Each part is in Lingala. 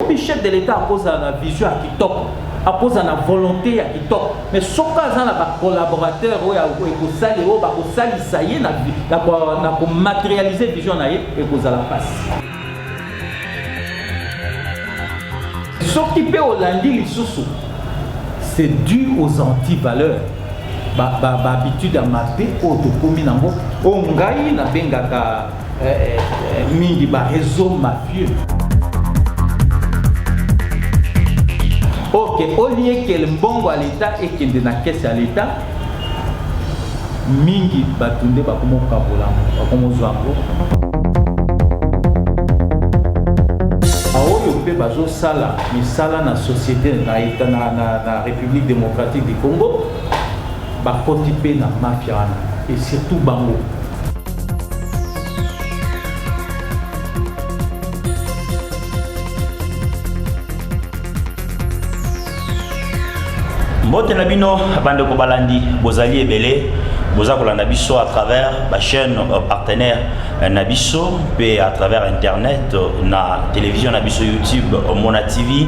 obi chef de l'etat akozala na vision ya kitoko akozala na volonté ya kitoko mais soki aza na bacollaborateur oyo ekosali oyo bakosalisa ye na komaterialise vision na ye ekozala mpasi soki mpe olandi lisusu c'est dû aux antivaleurs bahabitude ba, ba ya mabe oyo tokomi nango oyo ngai nabengaka eh, eh, mingi ba réseau mafieux ok au lieu que mbongo ya leta ekende na kese ya leta mingi bato nde bakomokabola yango bakomozwa yango baoyo mpe bazosala misala na société na, na, na, na république démocratique du congo Bakoti pe na mafia wana et surtout bango. mbote na bino bandeko balandi bozali ebele boza kolanda biso à travers bachaîne euh, partenaire euh, na biso mpe à travers internet euh, na télévision na biso youtube mona tv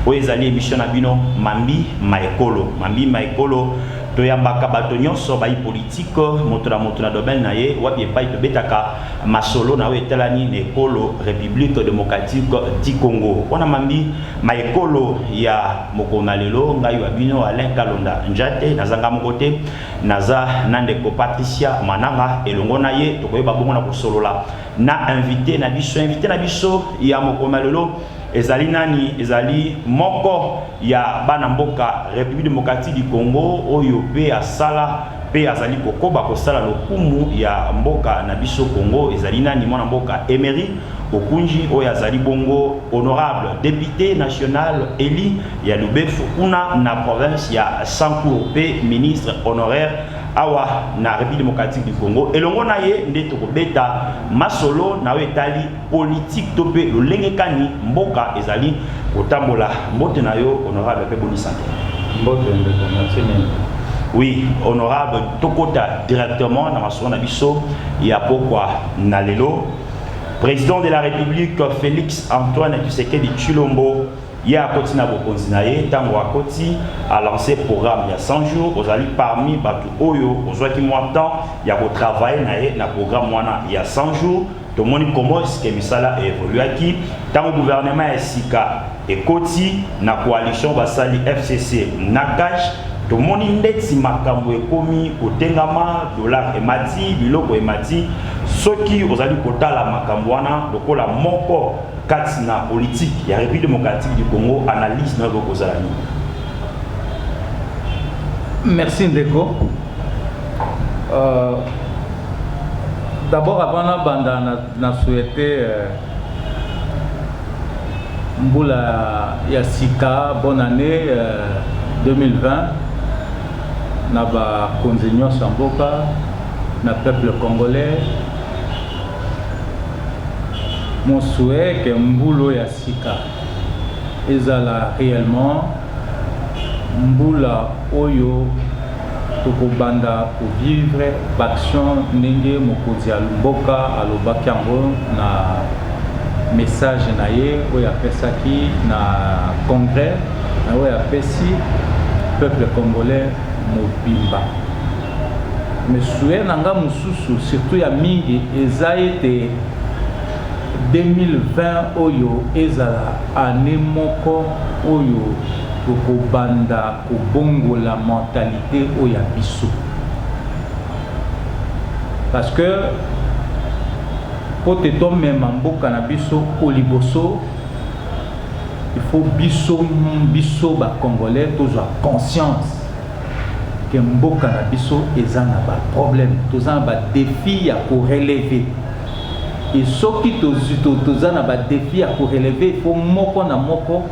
oyo ezali émission na bino mambi ma ekolo Mamie ma ekolo toyambaka bato nyonso bayi politike moto na moto na domaine na ye wapi epai tobetaka masolo na oyo etalani na ekolo republique démocratique du congo wana mambi ma ekolo ya mokolo na lelo ngai wa bino alain kalonda njate nazanga moko te naza na ndeko patricia mananga elongo na ye tokoyeba bongo na kosolola na invité na biso invité na biso ya mokolo na lelo Ezali nani? Ezali moko ya bana mboka Republique Democratique du Congo oyo pe asala pe azali kokoba kosala lokumu ya mboka na biso Congo. Ezali nani? Mwana mboka Emery Okunji oyo azali bongo honorable depute national elu ya Lubefu kuna na province ya Sancour pe ministre honoraire awa na Republique Democratique du Congo. Elongo na ye nde tokobeta masolo na oyo etali politiki to mpe lolenge kani mboka ezali kotambola. Mbote na yo honorable mpe boni sante? Mbote ndeko, merci mingi. Oui, honorable, tokota directement na masolo na biso ya pokwa na lelo. Président de la République Félix Antoine Tshisekedi Tshilombo ye akoti na bokonzi na ye ntango akoti alanse programme ya 100 jours ozali parmi bato oyo ozwaki mwa temps ya kotravaille na ye na programme wana ya 100 jours Tomoni comment est-ce que misala e evoluaki ntango gouvernement ya sika ekoti na coalition basali FCC na CACH, tomoni ndeti makambo ekomi kotengama, dollar emati, biloko emati, soki ozali kotala makambo wana lokola moko kati na politique ya Republique democratique du Congo, analyse na yo ekoki kozala nini? Merci ndeko. Euh, d'abord avant nabanda na, na souhaite euh, mbula ya sika bonne année euh, 2020 na bakonzi nyonso ya mboka na peuple congolais mon souhait ke mbulu ya sika Ezala reellement mbula oyo toko banda ko vivre b'action ndenge mokozi ya mboka alobaki yango na message na ye oyo apesaki na congrès na oyo apesi peuple congolais mobimba. Mais souhait na nga mosusu surtout ya mingi eza ete. 2020 oyo ezala annee moko oyo toko banda ko bongola mentalite oyo ya biso parce que po te to mema mboka na biso o liboso il faut biso biso ba congolais tozwa conscience ke mboka na biso eza na ba problème toza na ba defi ya ko relever Et soki toza na ba defis ya ko relever, il faut moko na moko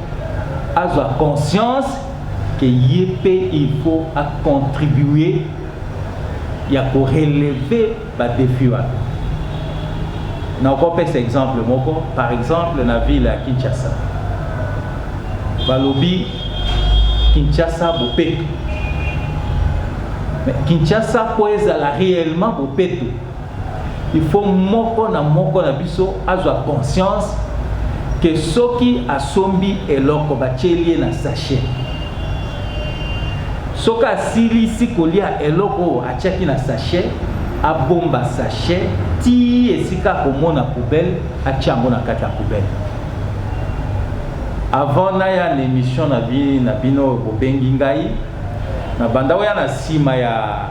azwa conscience que ye mpe il faut a contribuer ya ko relever ba defis wana. Nakopesa exemple moko, par exemple na ville ya Kinshasa, balobi Kinshasa bopeto. Mais Kinshasa mpo ezala reellement bopeto, Il faut moko na moko na biso azwa conscience que soki asombi eloko batieli ye na sachet, soki asilisi kolia eloko oyo atiaki na sachet, abomba sachet ti esika akomona poubelle atia yango na kati ya poubelle. Avant naya na emission na bino bobengi ngai, nabanda oya na sima ya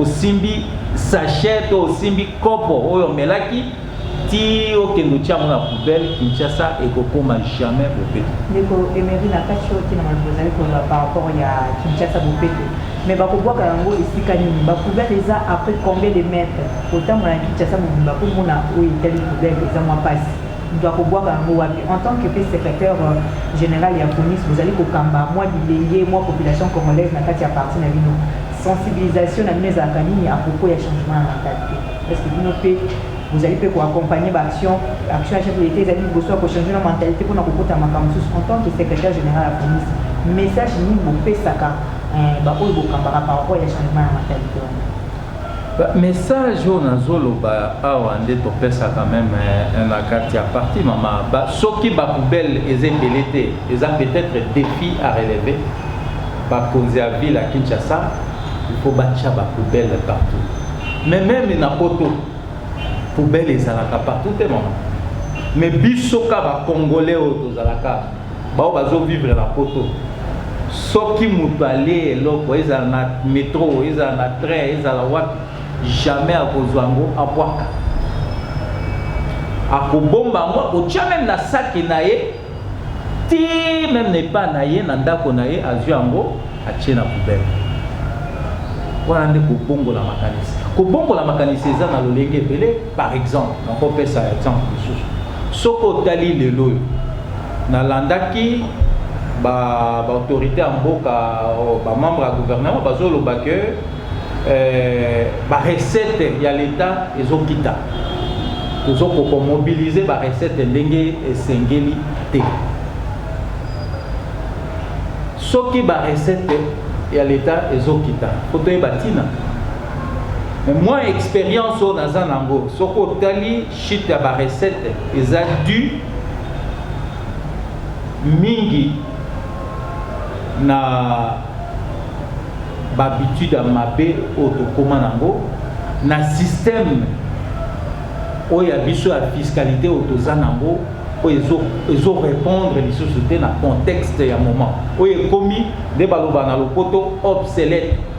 osimbi sachet to osimbi kopo oyo omelaki ti okende otya yango na poubelle kinshasa ekokoma jamais bopeto ndeko emery na kati oyo ntina maloba ozali koloba par rapport ya kinshasa bopeto mais bakobwaka yango esika nini bapoubelle eza après combien de mètre otambola na kinshasa mobimba komona oyo etali poubelle eza mwa mpasi Moto akobwaka yango wapi? En tant que mpe secretaire general ya Conis, bozali kokamba mwa bilenge, mwa population congolaise na kati ya parti na bino. Sensibilisation na bino ezalaka nini à propos ya changement ya mentalites? Est-ce que bino mpe bozali mpe ko accompagner ba actions? Action ya chef de l'Etat ezali liboso ya ko changer na mentalite mpo na kokota makambo mosusu. En tant que secretaire general ya Conis, message nini bopesaka ba oyo bokambaka par rapport ya changement ya mentalite wana? Ba message oyo nazo loba awa nde topesaka meme eh, na kati ya parti mama ba, soki ba poubelle eza ebele te eza peut-être défi à relever bakonzi ya ville ya Kinshasa il faut batya ba poubelle partout mais meme na poto poubelle ezalaka partout te mama mais biso ka ba congolais oyo tozalaka Ba oyo bazo vivre na poto soki mutu alie eloko ezala na metro ezala na train ezala wapi jamais akozua yango abuaka akobomba yango akotia meme na saki na ye ti meme na epa na ye na ndako na ye azui yango atie na poubelle wana nde kobongola makanisi kobongola makanisi eza na lolenge ebele par exemple nakopesa exemple mosusu soki otali lelo oyo Nalandaki ba autorites ya mboka, ba membres ya gouvernement bazo loba que ba recettes ya l'etat ezo kita. Tozo ko ko mobiliser ba recettes ndenge esengeli te. Soki ba recettes ya l'etat ezo kita, faut toyeba tina. Mais moi experience oyo naza nango, soki otali Chute ya ba recettes eza due mingi na ba habitudes ya mabe oyo tokoma nango na système oyo ya biso ya fiscalité oyo toza nango oyo ezo répondre lisusu te na contexte ya moment oyo ekomi nde baloba na lopoto obsolète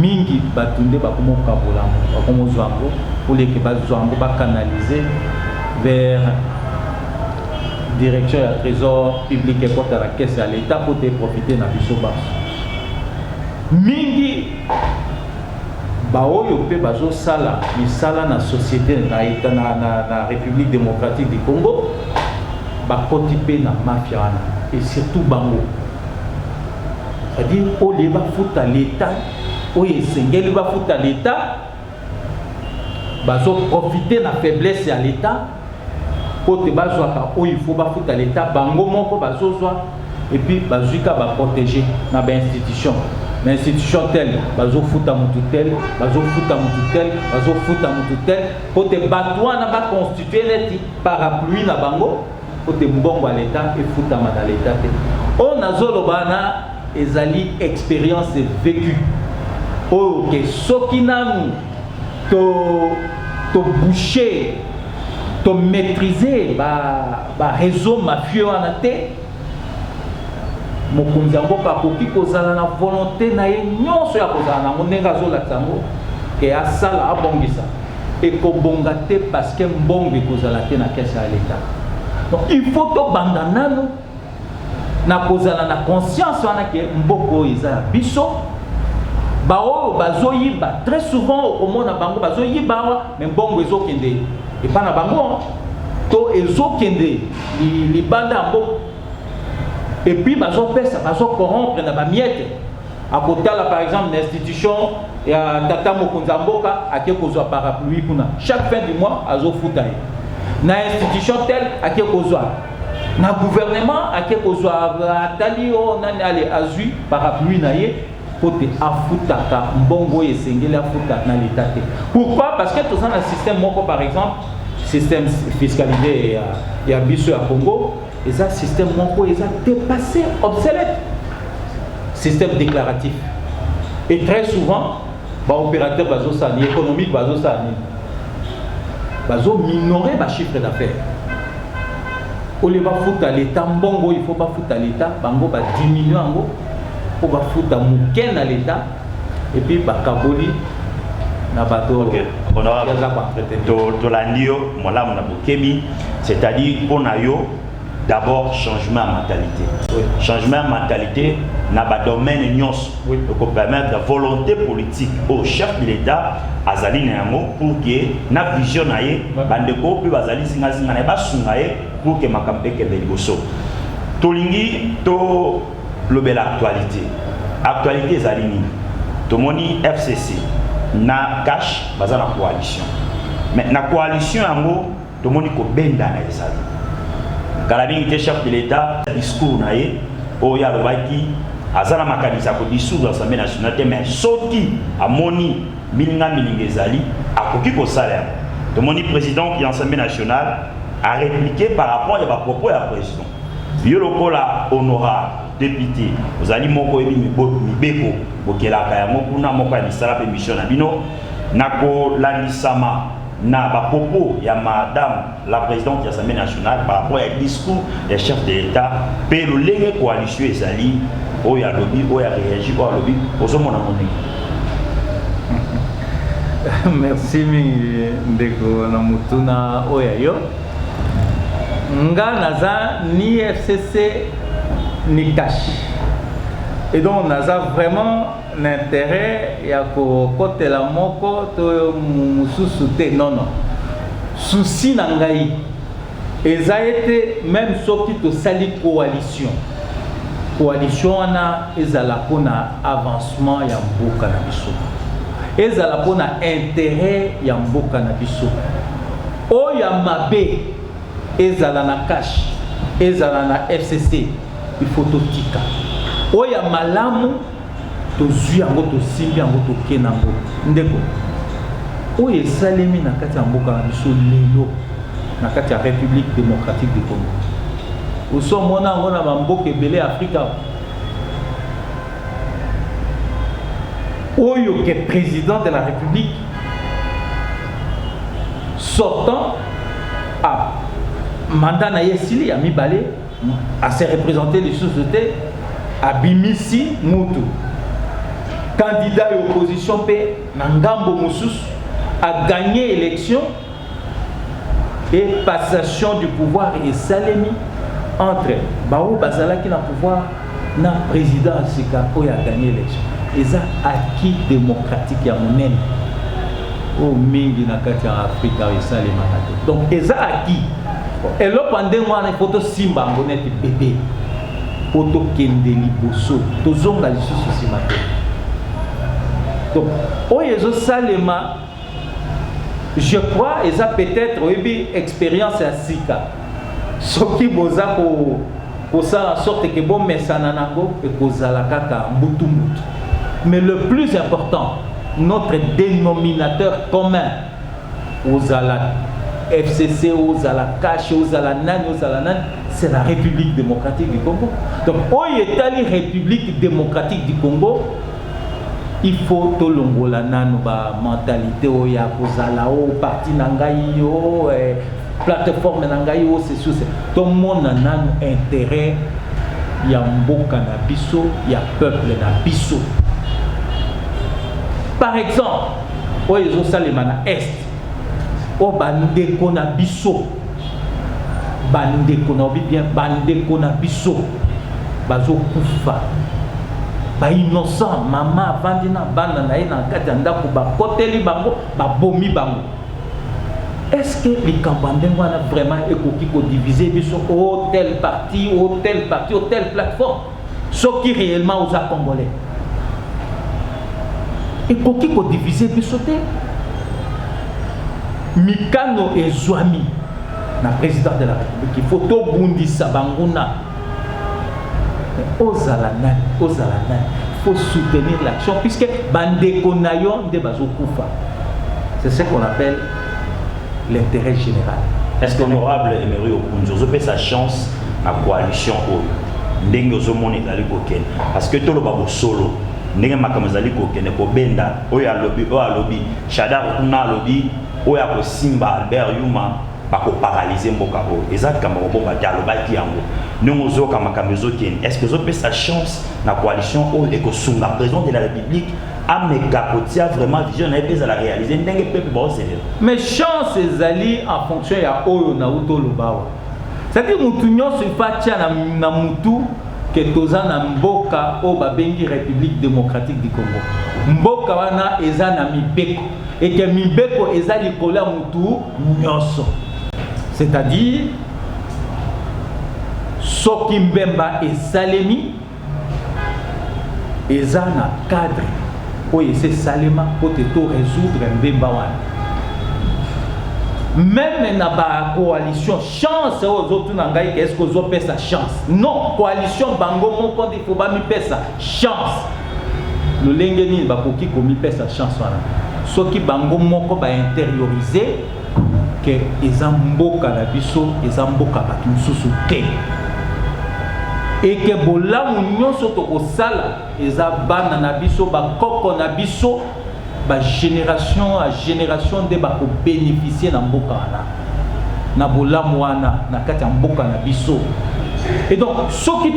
mingi batu nde bakomo kabola yango bakomo zwa yango au lieu que bazwa yango ba canaliser vers direction ya trésor public ekota na caisse ya l'etat mpo te profite na biso banso mingi baoyo mpe bazosala misala na société na, na, na, na république démocratique du congo bakoti mpe na mafia wana et surtout bango c'est-à-dire au lieu bafuta leta oyo esengeli bafuta leta bazoprofite na faiblesse ya leta mpo te bazwaka oyo ifo bafuta leta bango moko bazozwa epuis bazwi ka baprotege na bainstitution na institution tele bazofuta motu tele bazofuta motu tele bazofuta motu tele mpo te bato wana baconstitue neti parapluie na bango Mpo te mbongo ya leta efutama na leta te. Oyo nazo loba wana ezali experience vecue oyo ke soki nanu to to boucher to maitriser ba ba réseau mafieux wana te mokonzi ya mboka akoki kozala na volonté na ye nyonso ya kozala nango ndenge azolakisa yango ke asala abongisa Ekobonga te parce que mbongo ekozala te na caisse ya l'etat. Donc il faut tobanda nanu na kozala na conscience wana ke mboka oyo eza ya biso baoyo bazoyiba très souvent okomona bango bazoyiba awa me mbongo ezokende epa na bango to ezokende libanda ya mboka epuis bazopesa bazocorrompre na bamiete akotala par exemple na institution ya tata mokonzi ya mboka ake kozwa parapluie kuna chaque fin du mois azofuta ye na institution tel ake kozwa na gouvernement ake kozwa atali o nani ale azwi parapluie na ye mpo te afutaka mbongo oyo esengeli afuta na leta te pourquoi parce que toza na système moko par exemple système fiscalité ya, ya biso ya congo Eza système moko eza dépassé, obsolète. Système déclaratif. Et très souvent, ba opérateurs bazo ça, ni économique bazo ça, ni bazo minorer ba chiffre d'affaires. Au lieu ba foutre à l'état mbongo, il faut ba foutre à l'état, bango ba diminuer ngo pour ba foutre muken à l'état et puis ba kaboli na bato okay. tolandi yo molamu na bokebi C'est à dire mpo na yo d'abord changement ya mentalite oui. changement ya mentalite na badomaine nyonso oui. ekopermettre volonté politique oyo oh, chef de l'état azali na yango pour ke na vision na ye bandeko mpe bazali zingazinga na ye basunga ye pour ke makambo ekende liboso tolingi tolobela actualité actualité ezali nini tomoni fcc na cash baza na coalition mais na coalition yango Tomoni kobendana ezali kala mingi te. Chef de l'Etat discours na ye oyo alobaki aza na makanisi ya kodissoudre Assemblée nationale te, mais soki amoni milinga milinga ezali akoki kosala yango. Tomoni president ya Assemblée nationale a repliquer par rapport ya ba propos ya president. Yo lokola honorable depute ozali moko oyebi mibeko bokelaka yango kuna moko ya misala mpe mission na bino na kolandisama na ba propos ya madame la presidente ya Assemblée nationale par rapport ya discours ya chef de l'Etat pe lolenge coalition ezali oyo alobi oyo areagi oyo alobi ozomona ngo ndenge merci mingi ndeko na motuna oyo ya yo nga naza ni fcc ni cash et donc naza vraiment n'interet ya kokotela moko to mosusu te non non souci na ngai eza ete meme soki tosali coalition coalition wana ezala mpo na avancement ya mboka na biso ezala mpo na interet ya mboka na biso oyo ya mabe Ezala na cash, ezala na FCC, il faut totika. Oyo ya malamu tozwi yango tosimbi yango toke na yango ndeko oyo esalemi na kati ya mboka na biso lelo na kati ya république démocratique du congo osi omona yango na bamboka ebele ya afrika oyo ke président de la république sortant a mandat na ye esili ya mibale ase represente lisusu te abimisi mutu candidat ya opposition mpe na ngambo mosusu aganye election et passation du pouvoir esalemi entre baoyo bazalaki na pouvoir na président ya sika oyo aganye élection eza acquis démocratique ya monene oyo mingi na kati ya afrika oyo esalemaka te donc eza acquis eloko ya ndenge wana ifo tosimba yango neti bebe mpo tokende liboso tozonga lisusu nsima te donc oyo ezosalema Je crois eza peut-être oyebi experience ya sika soki boza ko kosala sorte ke bomesana nango ekozala kaka mbutu mbutu mais le plus important notre dénominateur commun ozala fcc ozala cash ozala nani ozala nani c'est la république démocratique du congo donc oyo etali république démocratique du congo Il faut tolongola nanu ba mentalite oyo ya kozala o oh, parti na ngai o oh, eh, plateforme na ngai o oh, sesuse tomona nanu interet ya mboka na biso ya peuple na biso par exemple oyo ezosalema na est oyo bandeko na biso bandeko na obi bien bandeko na biso bazokufa bainnocent mama avandi na bana na ye na kati ya ndako bakoteli bango babomi bango estce que likambo ya ndenge wana vraiment ekoki kodivise biso o tel parti o tel parti o tel plateforme soki réellement oza congolais ekoki kodivise biso te mikano ezwami na président de la république ifo tobundisa banguna ozala nani ozala nani faut soutenir l'action puisque bandeko na yo nde bazokufa c'est ce qu'on appelle l'intérêt général est ce que honorable emery okunzi ozopesa chance na coalition oyo ndenge ozomona ezali kokende parce que toloba bosolo ndenge makambo ezali kokende kobenda oyo alobi oyo alobi shadar kuna alobi oyo akosimba albert yuma bakoparalyze mboka oyo eza likambo kobomba te alobaki yango ndenge ozoyoka makambo ezokende est ce que ezopesa chance na coalition oyo ekosunga président de la république ameka kotia vraiment vision na ye mpe ezala réalise ndenge peuple baoselela mais chance ezali en fonction ya oyo nauti oloba awa Saki mutu nyonso il faut atia na, na mutu ke toza na mboka oyo babengi Republique Democratique du Congo. Mboka wana eza na mibeko eke mibeko eza likolo ya mutu nyonso, c'est-à-dire soki mbemba esalemi Eza na cadre oyo esi esalema mpo te to resoudre mbemba wana meme na ba coalition chance oyo ozotuna ngai ke eske ozopesa chance non coalition bango moko nde fo bamipesa chance lolenge nini bakoki komipesa chance wana soki bango moko bainteriorise que eza mboka na biso eza mboka bato mosusu te eke bolamu nyonso tokosala eza bana na biso bakoko na biso bagénération a génération nde bakobénéficie na mboka wana na bolamu wana na kati ya mboka na biso et donc soki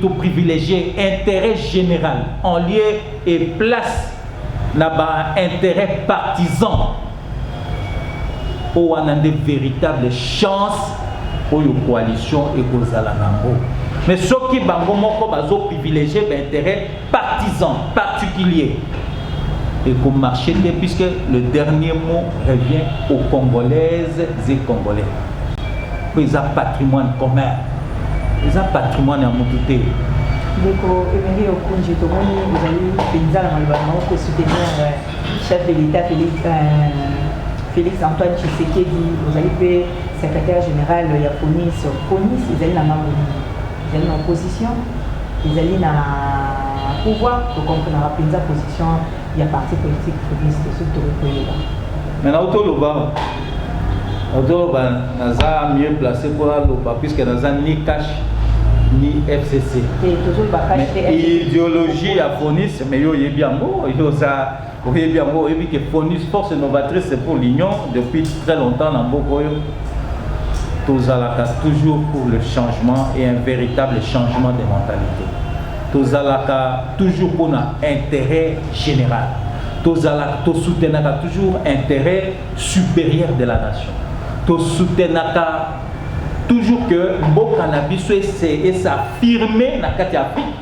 toprivilégie intérêt général en lieu et place na baintérêt partisan Oyo wana nde veritable chance oyo coalition ekozala nango. Mais soki bango moko bazo privilégier ba intérêt partisan particulier et qu'on marcher te puisque le dernier mot revient aux Congolaises et Congolais. Mais ça patrimoine commun. Ils ont patrimoine à Moutoute. Donc, Emery Okonji, tout le monde, vous allez, Penzala, Malbana, on peut soutenir. Chef de l'Etat Felix, euh, Felix Antoine Tshisekedi, ozali mpe secrétaire général ya CONIS. CONIS ezali na ngambo nini? Ezali na opposition, ezali na pouvoir, tokomprenaka mpenza position ya parti politique CONIS, soki tokoki koyeba. Mais na otoloba otoloba naza mieux placé mpo naloba puisque naza ni cash ni FCC. Te, tozoloba cash te. Ideologie ya CONIS Mais yo oyebi yango, yo oza oyebi yango, oyebi que Fonus force novatrice pour l'union depuis très longtemps na mboka oyo tozalaka toujours pour le changement et un véritable changement de mentalité tozalaka toujours pour na intérêt général tozalaka tosoutenaka toujours intérêt supérieur de la nation tosoutenaka toujours que mboka na biso ese esaffirme na kati ya afrique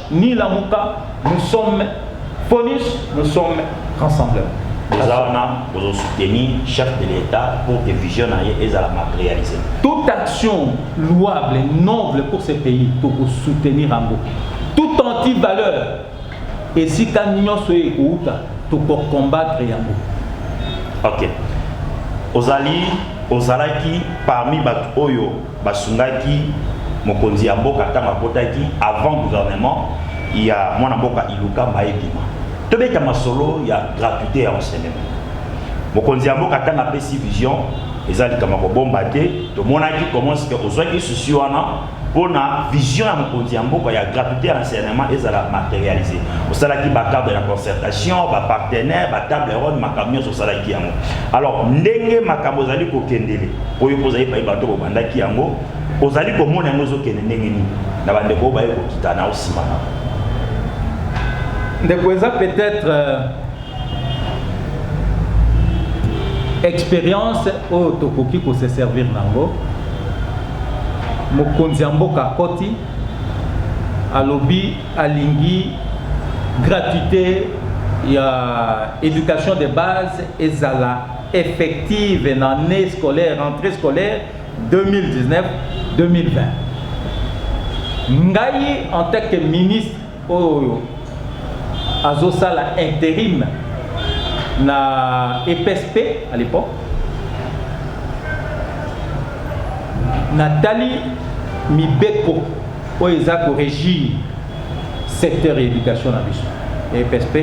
Ni lamuka nous sommes Fonus nous sommes rassemblement. Boza wana bozo soutenir chef de l'État pour que vision na ye ezala matérialisée. Toute action louable et noble pour ce pays toko soutenir yango. Tout anti-valeur esika nyonso oyo ekouta toko combattre yango. Ok. Ozali ozalaki parmi bato oyo Basungaki mokonzi ya mboka tango akotaki avant gouvernement ya mwana mboka Ilukamba ebima. Tobeta masolo ya gratuite ya enseignement. Mokonzi ya mboka tango apesi vision, eza likambo ya kobomba te, tomonaki comment ce que ozwaki souci wana pona vision ya mokonzi ya mboka ya gratuite ya enseignement ezala materialise. Osalaki ba cadre ya concertation, ba partenaires, ba table ronde, makambo nionso osalaki yango. Alors ndenge makambo ezali kokendele, Oyo mpo ozali epai bato bobandaki yango, ozali komona yango ezokende ndenge nini na bandeko oyo baye kokita na osima na ndeko eza peut-être euh, expérience oyo tokoki kose servir nango mokonzi ya mboka akoti alobi alingi gratuité ya éducation de base ezala effective na annee scolaire rentree scolaire 2019 2020 ngai en tant que ministre oyo azosala interim na EPSP à l'époque natali mibeko oyo eza korégir secteur ya education na biso ya EPSP,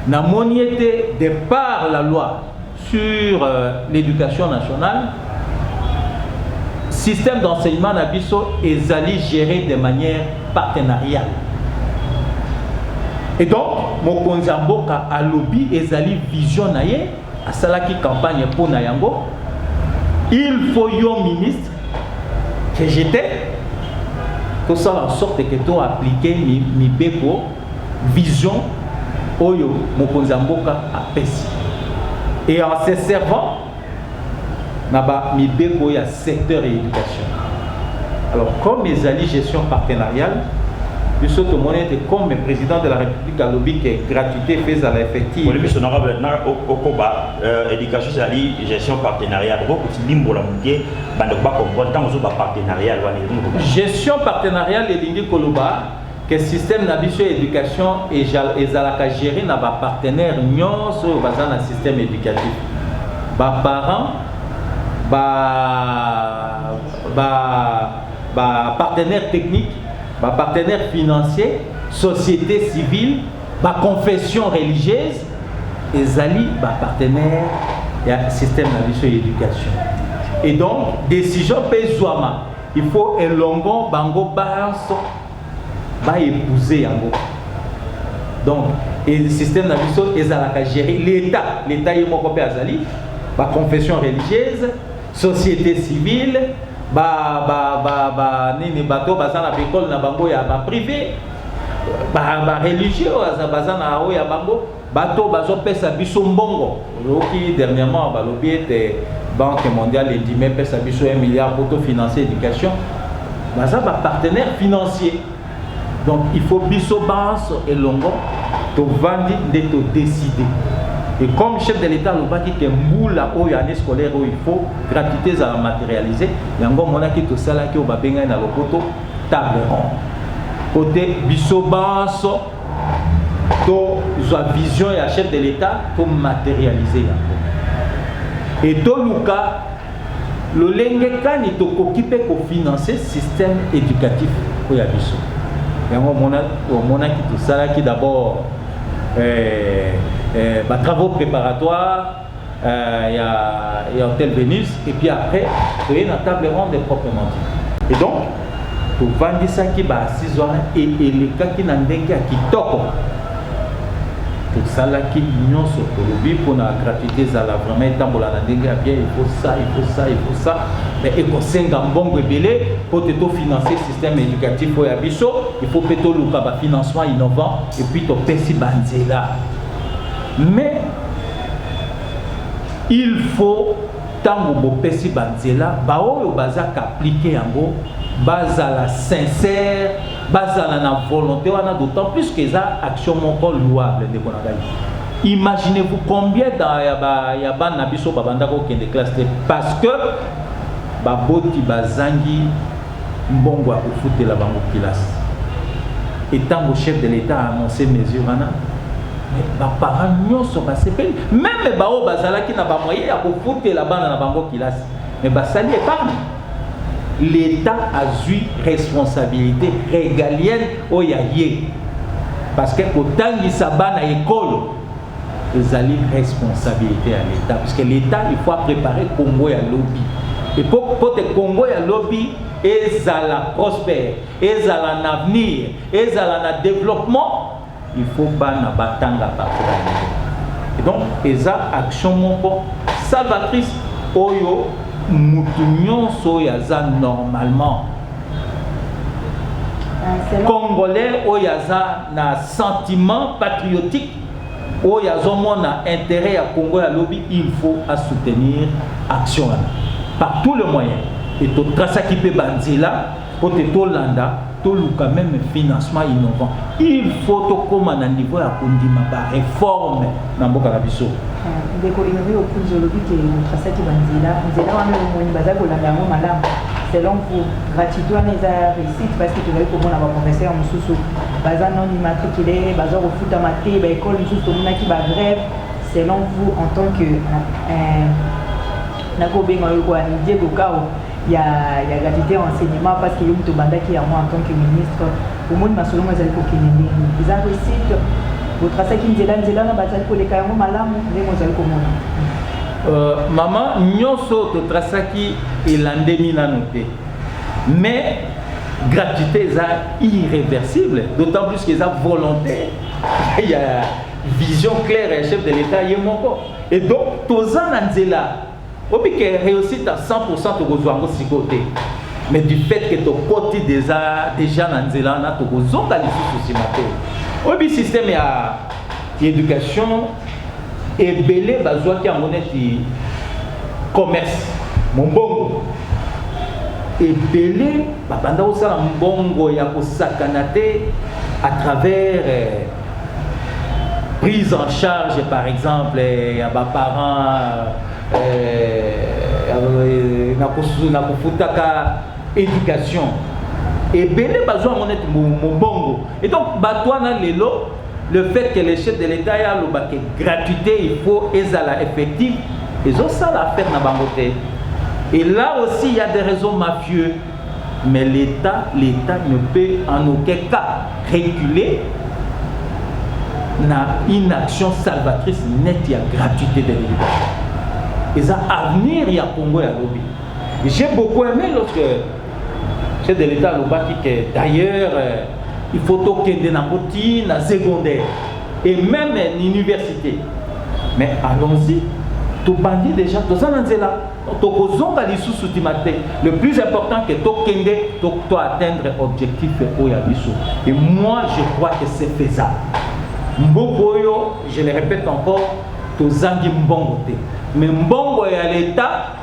namoni ete de par la loi sur euh, l'éducation nationale système d'enseignement na biso ezali géré de manière partenariale et donc mokonzi ya mboka alobi ezali vision na ye asalaki campagne mpo na yango il faut yo ministre que j'étais tosala en sorte que to appliquer mibeko vision oyo mokonzi ya mboka apesi et en se servant na ba mibeko ya secteur ya éducation alors comme ezali gestion partenariale biso tomoni ete comme président de la république alobi ke gratuité mpe ezala effective okoba Euh, éducation ezali gestion partenariat bokolimbola moke bandeko bacomprendre ntango ozoba partenariat wana gestion partenariale elingi koloba ke système na biso ya éducation ezalaka géré na bapartenaire nyonso oyo baza na système éducatif baparent bapartenaire technique bapartenaire financier société civile Ba confessions religieuses ezali ba partenaires ya système na biso ya education. Et donc decision mpe ezwama, il faut elongo bango banso ba epouser yango. Donc et système na biso ezalaka gérer l'État, l'État ye moko mpe azali ba confessions religieuses, société civile, ba ba ba ba nini bato baza na ba école na bango ya ba privé ba ba religieux baza baza na oyo ya bango bato bazopesa biso mbongo oyoki dernièrement balobi ete banque mondiale endimi epesa biso 1 milliard pour to financer éducation baza ba partenaire financier donc il faut biso banso elongo tovandi nde todeside et comme chef de l'état alobaki ke mbula oyo année scolaire oyo il faut gratuité ezala matérialisé yango omonaki tosalaki oyo babengani na lopoto table ronde mpo te biso banso tozwa vision ya chef de l'etat tomaterialize yango e toluka lolenge kani tokoki mpe kofinanse système éducatif oyo ya biso yango omonaki tosalaki d'abord eh, eh, batravaux préparatoires euh, ya, ya hotel venus et puis après toye na table ronde proprement dit et donc tovandisaki baasise wana e elekaki na ndenge ya kitoko tosalaki nyonso tolobi mpona gratuité ezala vraiment etambola na ndenge ya bien il faut ça il faut ça il faut ça mais ekosenga mbongo ebele mpo te tofinance système éducatif oyo ya biso il faut mpe toluka bafinancement innovant epuis topesi banzela Mais il faut ntango bopesi banzela baoyo baza kaaplike yango bazala sincère bazala na volonté wana d'autant plus que eza action moko louable ndeko na ngai imaginez-vous combien ya bana na biso babanda kokende classe te parce que baboti bazangi mbongo ya kofutela bango kilasi et ntango chef de l'etat a annonce mesure wana baparent nyonso basepeli meme baoyo bazalaki na bamoye ya kofutela bana na bango kilasi me basali epargne l'etat azwi responsabilité régalienne oyo ya ye parce que kotangisa bana ekolo ezali responsabilité ya l'État parce que l'État il faut préparer Congo ya lobi et pour pote Congo ya lobi ezala prospère ezala na avenir ezala na développement il faut bana batanga bakola et donc eza action moko salvatrice oyo mutu nyonso oyo aza normalement ah, congolais oyo aza na sentiment patriotique oyo azomona interet ya Congo ya lobi il faut a soutenir action wana par tout le moyen et to trasaki pe ba nzela po te tolanda toluka meme financement innovant il faut tokoma na niveau ya kondima ba réforme na mboka na biso ah, ndeko innobe okunzi olobi ke otrasaki ba nzela nzela wana omoni bazali kolanda yango malamu selon vous gratuite wana eza réussite parce que tozali komona baprofesseur mosusu Baza non immatricule baza kofutama te ba ecole mosusu tomonaki ba grève selon vous en tant que euh, nakobenga yo kwa Diego Kao ya ya gratuité ya enseignement parce que yo moto obandaki yango en tant que ministre omoni masolo ngo ezali kokende ndenge eza réussite botrasaki nzela nzela na bazali koleka yango malamu ndenge ozali komona euh, mama nyonso totrasaki elandemi nano te mais gratuité eza irréversible d'autant plus que eza volonté il y a vision claire ya chef de l'état ye moko et donc toza na nzela obike réussite à 100% tokozwa yango sikoyo te mais du fait que tokoti deja deja na nzela wana tokozonga lisusu nsima te oyebi système ya Education ebele bazwaki yango neti commerce, mombongo. Ebele babanda kosala mbongo ya kosakana te à travers eh, prise en charge par exemple eh, ya baparents eh, na kofutaka éducation ebele bazwa yango neti mombongo et donc bato wana lelo Le fait que le chef de l'Etat ya loba que gratuité il faut ezala effective, ezo sala affaire na bango te. Et là aussi il y a des raisons mafieux. Mais l'État, l'État ne peut en aucun cas réguler na une action salvatrice nette ya gratuité de l'éducation. Et ça avenir ya Congo ya lobi. J'ai beaucoup aimé lorsque Chef de l'Etat alobaki que d'ailleurs il faut tokende nango ti na secondaire et même na université mais allons-y tobandi déjà toza na nzela tokozonga lisusu tima te le plus important que tokende to, to atteindre objectif oyo ya biso et moi je crois que c'est faisable mboka oyo je le répète encore tozangi mbongo te mais mbongo ya leta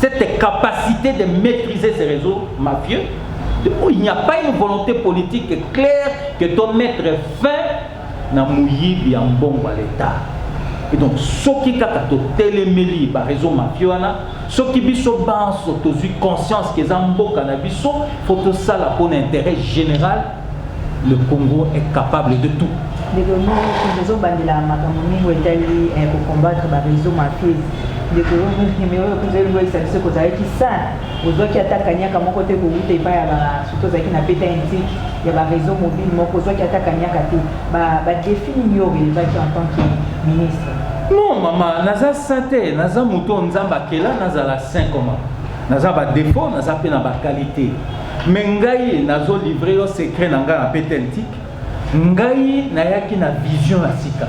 cette capacite de maîtriser ces réseaux mafieux, oh, il n'y a pas une volonté politique claire que doit mettre fin na muyibi ya mbongo à l'État. Et donc, soki kaka to telemeli ba réseau mafieux wana, soki biso banso tozui conscience que za mboka na biso, faut to sala pour l'intérêt général Le Congo est capable de tout. ndeko nini ozobandela makambo mingi oyo etali eh, kocombattre bareseau mafies ndeko mais oyo mpenza elingoyisa biso kozalaki sain ozwaki ata kanyaka moko te kowuta epai ya surtout ozalaki na beta intike ya bareseau mobile moko ozwaki ata kanyaka te badefi nini yo orelevaki en tant que ministre non mama naza sain te naza moto oyo nzambe akela nazala sain comment Naza ba defaut naza pe na ba qualite mais ngai nazo livre yo secret na ngai na petentique ngai nayaki na vision ya sika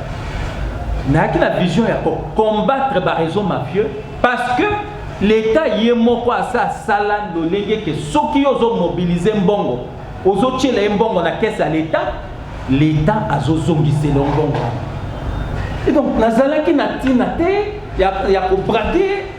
nayaki na vision ya ko combattre ba réseau mafieux parce que leta ye moko asa asala lolenge ke soki yo ozo mobilize mbongo ozotyela ye mbongo na kese ya leta leta azozongisela yo mbongo wana donc nazalaki na ntina te ya, ya kobrade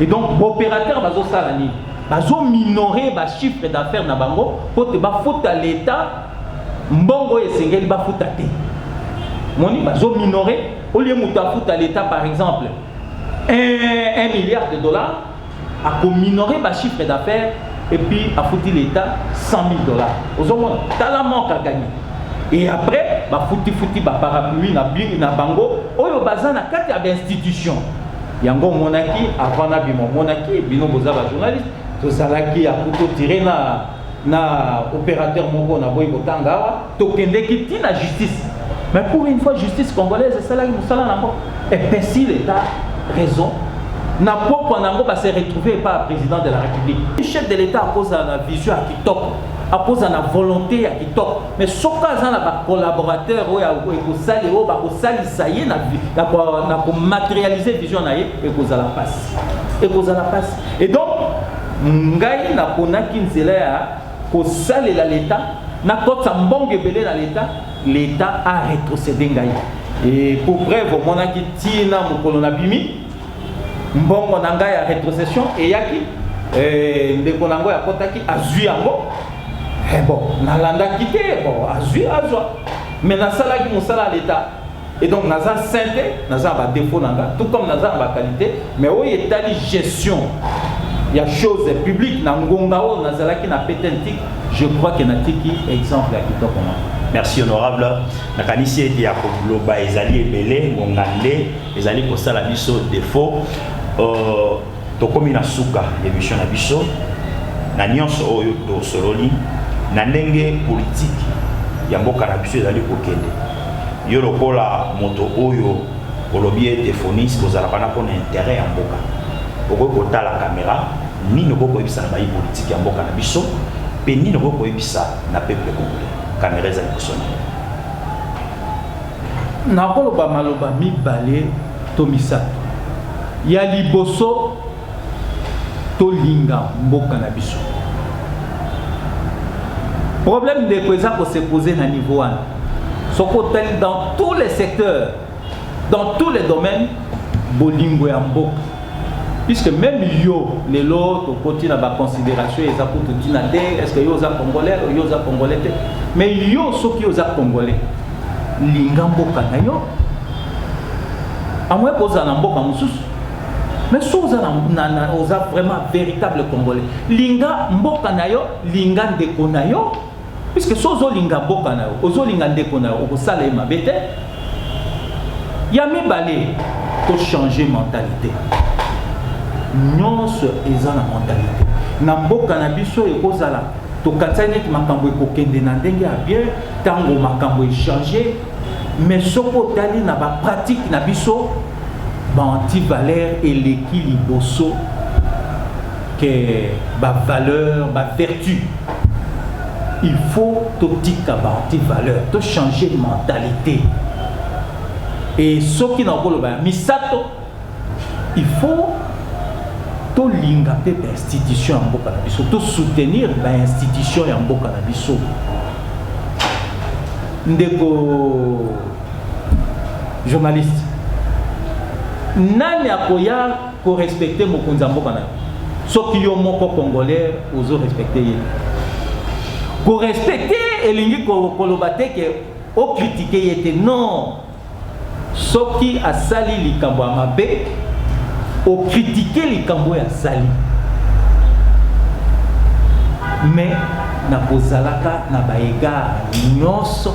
Et donc, l'opérateur va faire nini bazo minorer ba chiffre d'affaires na bango mpo te bafuta leta mbongo oyo esengeli bafuta te moni bazo minorer olie moto afuta leta par exemple 1, 1 milliard de dollars akominore ba chiffre d'affaires et puis afuti leta 100 000 dollars ozomona tala manque à gagner et après bafuti futi baparapluie na, na bango oyo baza na kati ya bainstitution Yango omonaki avant na bima omonaki bino boza ba journaliste tozalaki ya kutotire na na opérateur moko na boyi kotanga awa tokendeki ti na justice mais pour une fois justice congolaise esalaki mosala nango epesi leta raison na pokwa na yango base retrouve epa ya président de la république chef de l'état akozala na vision ya kitoko akozala na volonté ya kitoko mais soki aza na bacollaborateur oyo ekosali oyo bakosalisa ye na komaterialize vision na ye ekozala mpasi ekozala mpasi et donc ngai naponaki nzela ya kosalela leta nakotisa mbongo ebele na leta leta aretrocede ngai e pour preuve omonaki ntina mokolo nabimi mbongo na ngai ya retrocession eyaki eh, ndeko na yango yakotaki azwi yango eh, bon nalandaki te bon azwi azwa mais nasalaki mosala ya leta et donc naza saint te naza na badefo na nga tout comme naza na baqualité mais oyo etali gestion ya chose publique na ngonga oyo nazalaki na petentik je crois ke natiki exemple ya kitoko na merci honorable nakanisi ete ya koloba ezali ebele ngonga nde ezali kosala biso defaut uh, tokomi na suka emission na biso na nyonso oyo tosololi na ndenge politiki ya mboka na biso ezali kokende yo lokola moto oyo olobi ete fonis kozalaka na mpona intere ya mboka okoki kotala kamera nini okoki koyebisa na bayi politiki ya mboka na biso mpe nini okoki koyebisa na peuple congolais kamera eza liboso na yo Nakoloba maloba mibale to misato. Ya liboso, tolinga mboka na biso. Problème ndeko eza ko se poser na niveau wana. Soki otali dans tous les secteurs, dans tous les domaines, bolingo ya mboka Puisque meme yo lelo tokoti na ba consideration eza kutu tina te est ce que yo oza congolais yo oza congolais te mais yo soki oza congolais linga mboka na yo amoya kozala na mboka mosusu mais so oza na, na, oza vraiment véritable congolais linga mboka na yo linga ndeko na yo Puisque soki ozolinga mboka na yo, ozolinga ndeko na yo, okosala ye mabe te. Ya mibale, tochanger mentalite. Nyonso eza na mentalite. Na mboka na biso ekozala tokanisaki neti makambo ekokende na ndenge ya bien ntango makambo echange mais soki otali na bapratique na biso ba antivaleur eleki liboso ke bavaleur bavertu il faut totika ba antivaleur tochange mentalite e soki nakoloba ya misato il faut tolinga mpe bainstitution ya mboka na biso tosoutenir bainstitution ya mboka na biso ndeko Journaliste. Nani akoya ko respecter mokonzi ya mboka na yo? Soki yo moko congolais ozo respecter ye. Ko respecter elingi koloba te ke o critiquer ye te. Non. Soki asali likambo ya mabe, o critiquer likambo oyo asali. Mais na kozalaka na ba egards nyonso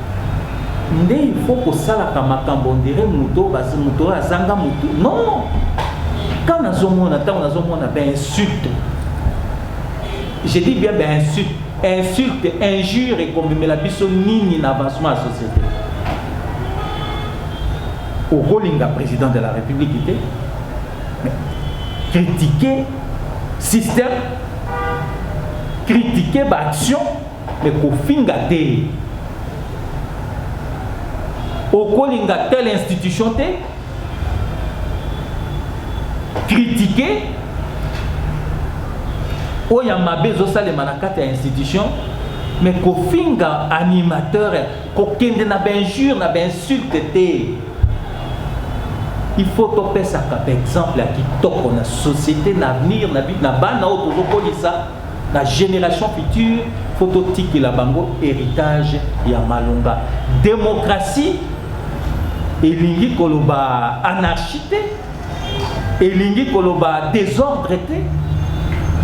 nde il faut kosalaka makambo ondire moto basi moto oyo azanga motu non ka nazomona ntango nazomona bainsulte je dis bien bainsulte insulte injure ekomemela biso nini na avancement ya société okolinga président de la république te mais critiquer système critiquer baaction Mais kofinga te. Okolinga telle institution te. Critiquer oyo ya mabe ezosalema na kati ya institution mais kofinga animateur kokende na bainjure na bainsulte te il faut topesaka baexemple ya kitoko na société na avenir na bana oyo tozokolisa Ba generations futures faut totikela bango heritage ya malonga. Democratie elingi koloba anarchie te, elingi koloba desordre te.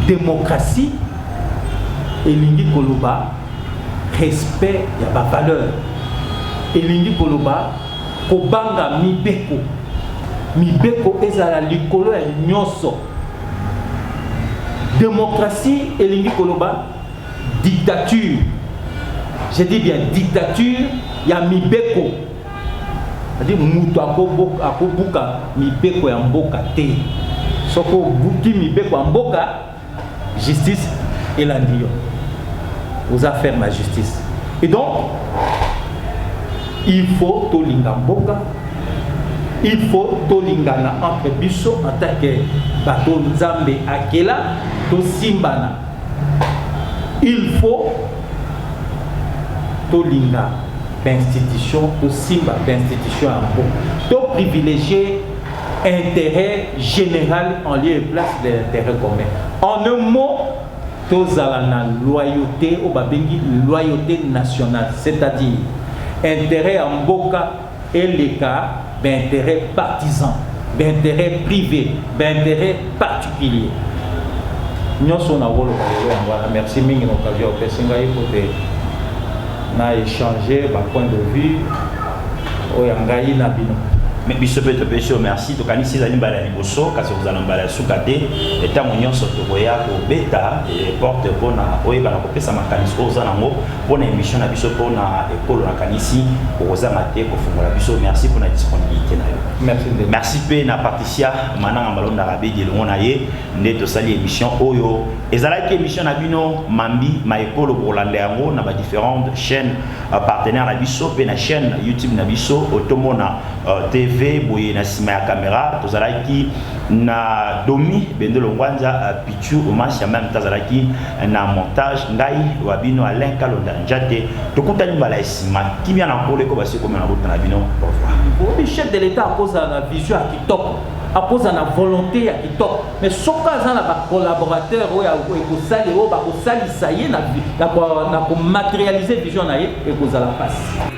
Democratie elingi koloba respect ya ba valeurs, elingi koloba kobanga mibeko, mibeko ezala likolo ya nyonso. Democratie elingi koloba dictature, je dis bien dictature ya mibeko, c'est-à-dire moto akobuka mibeko ya mboka te. Soki obuki mibeko ya mboka, justice elandi yo, oza ferme na justice. Et donc il faut tolinga mboka il faut tolingana entre biso en tant que bato nzambe akela tosimbana il faut tolinga bainstitution tosimba bainstitution yango toprivilégie intérêt général en lieu et place de l'intérêt commun en un mot tozala na loyauté oyo babengi loyauté nationale c'est-à-dire intérêt ya mboka eleka ba interet partisan ba interet prive ba interet particulier nyonso nakoloba lelo yango wana merci mingi na occasion opesi ngai pote na échanger ba point de vue oyo ya ngai na bino me biso mpe topesi yo merci tokanisi ezali mbala ya liboso kasi kozala mbala ya suka te ntango nyonso tokoya kobeta eh, porte mpona oyebana kopesa makanisi oyo oza nango mpo na emission na biso mpo na ekolo nakanisi okozanga te kofungola biso merci mpo na disponibilité na yo merci mpe na patricia mananga malonda rabedi elongo na ye nde tosali émission oyo ezalaki émission na bino mambi ma ekolo bokolanda yango na badifférentes chaînes euh, partenaire na biso mpe na chaîne youtube na biso otomona euh, tv boye na nsima ya caméra tozalaki na domi bendelo ngwanza euh, Sur Omar Siamam tazalaki na montage ngai wa bino Alain Kalonda Njate tokutani mbala ya sima kimia na nkolo eko basi komela bota na bino au revoir. Obi chef de l'etat akozala na vision ya kitoko akozala na volonté ya kitoko mais soki aza na bacollaborateur oyo ekosali oyo bakosalisa ye na komaterialise vision na ye ekozala mpasi